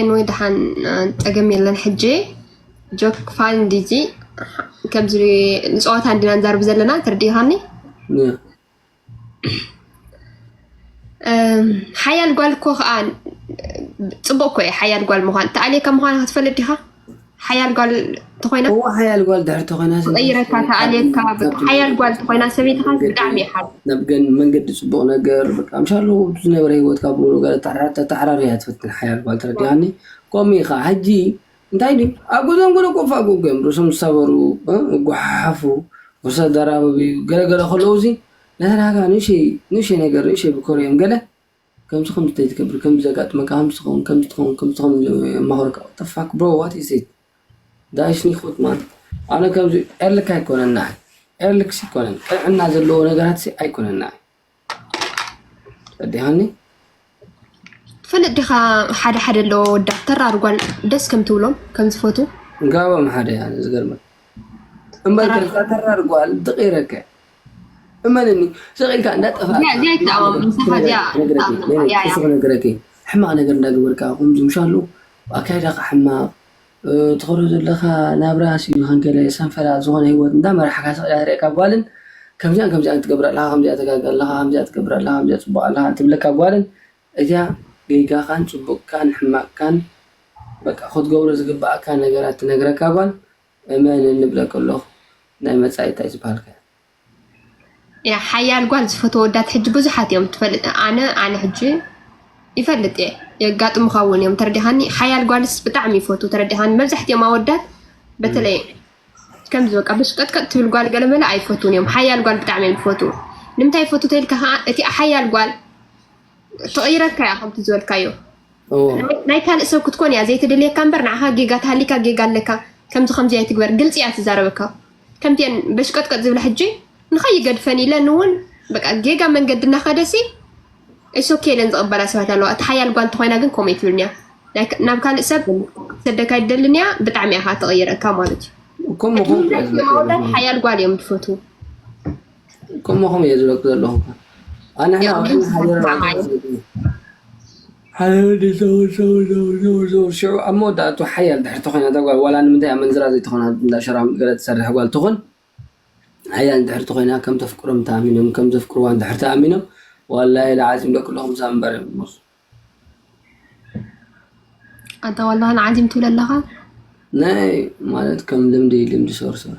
ኤንወይ ደሓን ፀገም የለን ሕጂ ጆክ ፋን ዲዚ ከምዚ ንፀዋታ እንዲና ንዛርብ ዘለና ተርዲኻኒ ሓያል ጓል እኮ ከዓ ፅቡቅ እኮ እዩ ሓያል ጓል ምኳን ተኣልየካ ምኳን ክትፈልጥ ዲካ ሓያል ጓል ተኮይና እዎ ሓያል ጓል ድሕር ተኮይና ቀይረካ ተኣልየካ ሓያል ጓል ተኮይና ሰበይትካ ብጣዕሚ እየ ሓብ ናብ ገን መንገዲ ፅቡቅ ነገር በቃ ምሻሎ ዝነበረ ሂወትካ ብሉ ገለ ተተሓራሪ እያ ትፍትን ሓያል ጓል ተረዲኣኒ ከምኡ እዩ ከዓ ሕጂ እንታይ ድዩ ኣብ ገዞም ገለ ኮፍ ኣጎጎ እዮም ርእሶም ዝሰበሩ እጓሓሓፉ ርሶ ደራበብዩ ገለገለ ከለዉ እዚ ነተናጋ ንእሽይ ንእሽይ ነገር ንእሽይ ብኮር እዮም ገለ ከምዚ ከምዚ ተዝገብር ከምዚ ዘጋጥመካ ከምዚ ትከውን ከምዚ ትከውን ከምዚ ትከውን ኢሎም የማክሩካ ዋትዘፋክ ብሮ ዋት ኢዝ ዚስ ጋይስ ኒክውት ማን ኣነ ከምዚ ኤርልክ ኣይኮነን ንዓይ ኤርልክ ኣይኮነን ቅንዕና ዘለዎ ነገራት ኣይኮነን ንዓይ ተረዲእካኒ ትፈልጥ ዲኻ ሓደ ሓደ ኣሎ ወዳ ተራር ጓል ደስ ከም ትብሎም ከም ዝፈቱ ጋቦም ሓደ እያ ዝገርመ እምበር ከዛ ተራር ጓል ድቂረከ እመንኒ ሰቂልካ እንዳጠፋእነግረኪ ሕማቅ ነገር እንዳገበርካ ከምዚ ምሻሉ ኣካይዳካ ሕማቅ ትኸዶ ዘለካ ናብራ ንገለ ሰንፈላ ዝኮነ ሂወት እንዳመራሕካ ስቅ ኢላ ትርእየካ ጓልን ከምዚኣን ከምዚኣን ትገብር ኣለካ ከምዚኣ ትገብር ኣለካ ከምዚኣ ትገብር ኣለካ ከምዚኣ ፅቡቅ ኣለካ ትብለካ ጓልን እዚኣ ጌጋካን ፅቡቅካን ሕማቅካን በቃ ክትገብሮ ዝግበኣካ ነገራት ትነግረካ ጓል እመንን ንብለኪ ኣለኩ ናይ መፃኢ እንታይ ዝበሃል ከ። እያ ሓያል ጓል ዝፈትዎ ወዳት ሕጂ ብዙሓት እዮም ትፈልጥ ኣነ ኣነ ሕጂ ይፈልጥ እየ የጋጥሙካ እውን እዮም ተረዲኻኒ ሓያል ጓልስ ብጣዕሚ ይፈቱ ተረዲኻኒ መብዛሕትኦም ኣወዳት በተለይ ከምዚ በቃ ብሽቀጥቀጥ ትብል ጓል ገለመለ ኣይፈቱን እዮም ሓያል ጓል ብጣዕሚ እዮም ዝፈቱ ንምንታይ ይፈቱ ተልካ ከዓ እቲ ሓያል ጓል ትቕይረካ እያ ከምቲ ዝበልካዮ ናይ ካልእ ሰብ ክትኮን እያ ዘይትደልየካ እምበር ንዓኻ ጌጋ ተሃሊካ ጌጋ ኣለካ ከምዚ ከምዚ ኣይትግበር ግልፂ እያ ትዛረበካ ከምቲ እየን በሽቀጥቀጥ ዝብላ ሕጂ ንኸይገድፈን ኢለን እውን በቃ ጌጋ መንገዲ እናኸደሲ እሶኬ ኢለን ዝቕበላ ሰባት ኣለዋ እቲ ሓያል ጓል እንተኮይና ግን ከምኡ ይትብልን እያ ናብ ካልእ ሰብ ሰደካ ይደልን እያ ብጣዕሚ እያ ትቕይረካ ማለት እዩ ሓያል ጓል እዮም ትፈትዉ ከማኹም እየ ዝበክ ዘለኹ ኣንሕና ሽዑ ኣብ መወዳእቱ ሓያል ድሕርቲ ኮይና እዛ ጓል ዋላ ንምንታይ ኣመንዝራ ዘይትኾና እንዳ ሸራ ገለ ትሰርሕ ጓል ትኹን ሓያል ድሕርቲ ኮይና ከም ተፍቅሮም ተኣሚኖም ከም ዘፍቅርዋ ድሕር ተኣሚኖም ዋላ ኢለ ዓዚም ደቂ ኣለኹም ሳብ እምበር ሞስ ኣታ ዋላ ዓዚም ትብለ ኣለኻ ናይ ማለት ከም ልምዲ ልምዲ ሶርሶር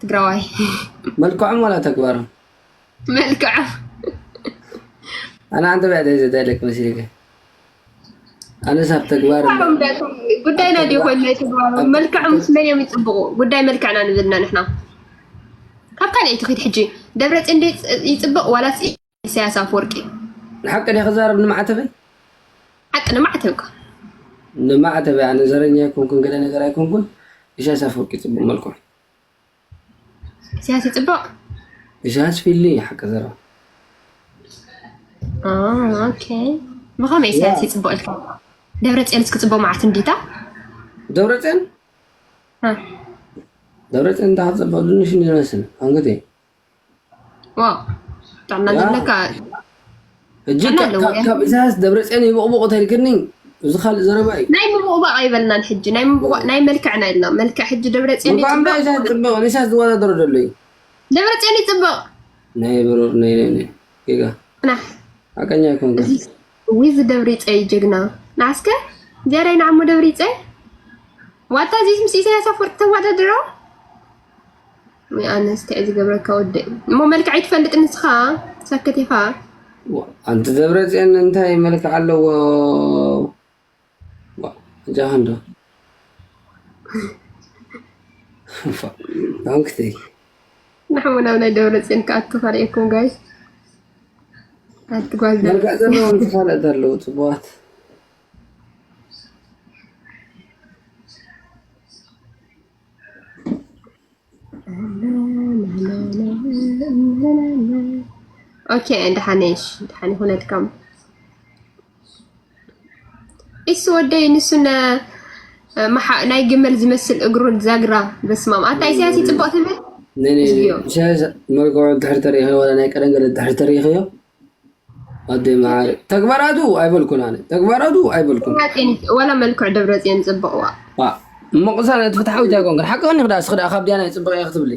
ትግራዋይ መልክዖም ዋላ ተግባሮም መልክዖም ኣነ ኣንተ ብዕደ ዘዳይለክ መሲልከ ኣነ ሳብ ተግባር ጉዳይና ዲ ኮይኑ ናይ ተግባሮም መልክዕ ምስ መን እዮም ይፅብቑ ጉዳይ መልክዕና ንብልና ንሕና ካብ ካልኣይቲ ክድ ሕጂ ደብረፅን ይፅብቕ ዋላስ ኢሳያስ ኣፈወርቂ ንሓቂ ዲያ ክዛረብ ንማዕተበይ ሓቂ ንማዕተብካ ንማዕተበይ ኣነ ዘረኛ ኣይኮንኩን ገለ ነገር ኣይኮንኩን ኢሳያስ ኣፈወርቂ ፅቡቅ መልክዑ ኢሳያስ ይፅቡቅ ኢሳያስ ፊሊ ሓቂ ዘረባ ኦኬ ብኸመይ ኢሳያስ ይፅቡቅ ኢልካ ደብረፅዮንስ ክፅቡቅ መዓት እንዲታ ደብረፅዮን ደብረፅዮን እንዳ ክፅቡቅ ድንሽ ይመስል ኣንግዲህ እዛስ ደብረፅዮን ይቦቕቦቕ ተልክኒ እዚ ካልእ ዘረባ እዩ ናይ ምብቕባቕ ኣይበልናን ሕጂ ናይ ምብቕባቕ ናይ መልክዕ ናይ ኢልና መልክዕ ሕጂ ደብረፅዮን ፅብቕ ንሳስ ዝወዳደሮ ዘሎ እዩ ደብረፅዮን ይፅብቕ ናይ ብሩር ናይ ጌጋ ሓቀኛ ይኮን ዊዝ ደብሪ ፀይ ጀግና ንዓስከ ዚያዳይ ንዓሞ ደብሪ ፀይ ዋታ ዚስ ምስ ኢሳያስ ኣፈወርቂ ተወዳድሮ ወይ ኣነስ ታይ ዝገብረካ ወዲ እሞ መልክዕ ኣይትፈልጥ ንስኻ ሰክት ኢኻ ኣንቲ ደብረፅዮን እንታይ መልክዕ ኣለዎ ጃሃንዶ ዳንክተይ ንሕሙ ናብ ናይ ደብረፅዮን ክኣቱ ካልኤኩም ጋይ ኣትጓዝ መልክዕ ዘለዎም ተፋለጥ ኣለዉ ፅቡዋት ኦኬ ደሓን ነሽ? ደሓን ይኹነልካም ኢሱ ወደይ ንሱነ ናይ ግመል ዝመስል እግሩ ዛግራ በስማም ኣታ ኢሳያስ ይፅቡቕ ትብል ኢሳያስ መልክዑ ድሕሪ ተሪኢኸዮ ዋላ ናይ ቀደም ገለ ድሕሪ ተሪኢኸዮ ኣደይ መዓር ተግባራቱ ኣይበልኩን ኣነ ተግባራቱ ኣይበልኩን ወላ መልክዕ ደብረፅዮን ፅብቕ ዋ እሞ ቅሳነት ፍትሓዊት ኣይኮንክን ሓቂ ከኒ ክዳ ስክዳ ካብ ድያና ፅብቕ እየ ክትብሊ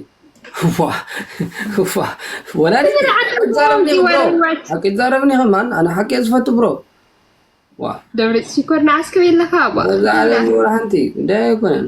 ሓቂ ዛረብኒ ከማን ኣነ ሓቂ እየ ዝፈቱ ብሮ ደብረፅ ሽኮር ንዓስከብ የለካ እዛ ዓለም ወላ ሓንቲ ጉዳይ ኣይኮነን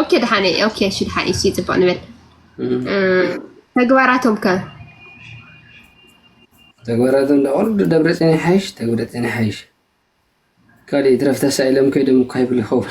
ኦኬ ደሓነ ኦኬ እሺ ደሓነ እሺ ጽቡቅ ንበል ተግባራቶም ከ ተግባራቶም ዳቆርዱ ደብረጽዮን ይሓይሽ ተግብረጽዮን ይሓይሽ ካልእ ይትረፍ ተሳኢሎም ከይዶም እኳ ይብሉ ይኸውን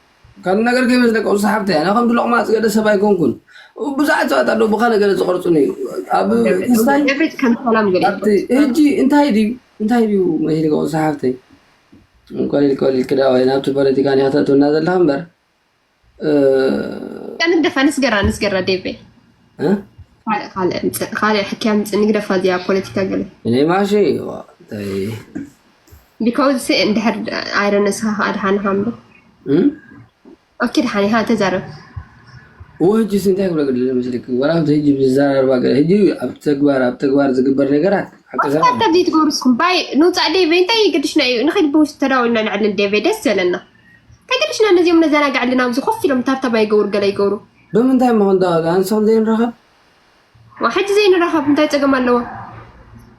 ካልእ ነገር ከይበዝሕ ደቂ ቁርሲ ሓብተይ ኣነ ከምቲ ሎቕማጽ ገለ ሰብ ኣይኮንኩን ብዙሓት ሰባት ኣለዉ ብካልእ ገለ ዝቐርጹኒ ኣብ ክስታይ ኤቭሪት ከም ሰላም ገለ ኣብቲ ሕጂ እንታይ ድዩ እንታይ ድዩ መሂል ቁርሲ ሓብተይ ቆሊል ቆሊል ክዳወይ ናብቲ ፖለቲካ ኒካ ተእትውና ዘለካ እምበር ንግደፋ ንስገራ ንስገራ ዴቬ እ? ካልእ ካልእ ምጽእ ካልእ ሕክያ ምጽእ ንግደፋ እዚኣ ፖለቲካ ገለ እኔ ማሺ ቢካውዝ ሲ እንድሕር ኣይረ ንስኻ ከዓ ድሓንኻ እምበር ኦኬ ድሓን ኢኻ ተዛረብ ወጅስ እንታይ ክብሎ ገለ መስለኪ ወራብቲ ህጂ ብዝዘራርባ ገለ ህጂ ኣብ ተግባር ኣብ ተግባር ዝግበር ነገራት ኣከሰራታ ዘይትገብሩ እስኩም ባይ ንውፃእ ዴቨ እንታይ ይገድሽና እዩ ንኸይድ ብውሽጢ ተዳዊልና ንዕልል ዴቨ ደስ ዘለና እንታይ ገድሽና ነዚኦም ነዘናግዕልና ኣብዚ ኮፍ ኢሎም ታብታባ ይገብሩ ገለ ይገብሩ ብምንታይ እሞ ክንዳወሉ ኣንስኹም ዘይንረኸብ ሕጂ ዘይንረኸብ እንታይ ፀገም ኣለዎ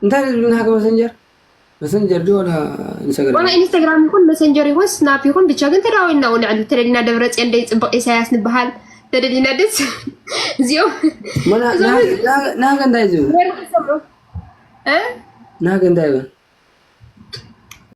እንታይ ዝብልና ሃገ መሰንጀር መሰንጀር ዶ ወላ ኢንስታግራም? ወላ ኢንስታግራም ይኹን መሰንጀር ይኹን ስናፕ ይኹን ብቻ ግን ተዳዊልና እውን ንዕሊ ተደሊና ደብረፅዮን ደይ ፅብቕ ኢሳያስ ንበሃል ተደሊና ደስ እዚኦም ናገ እንታይ ዝብል ናገ እንታይ ይብል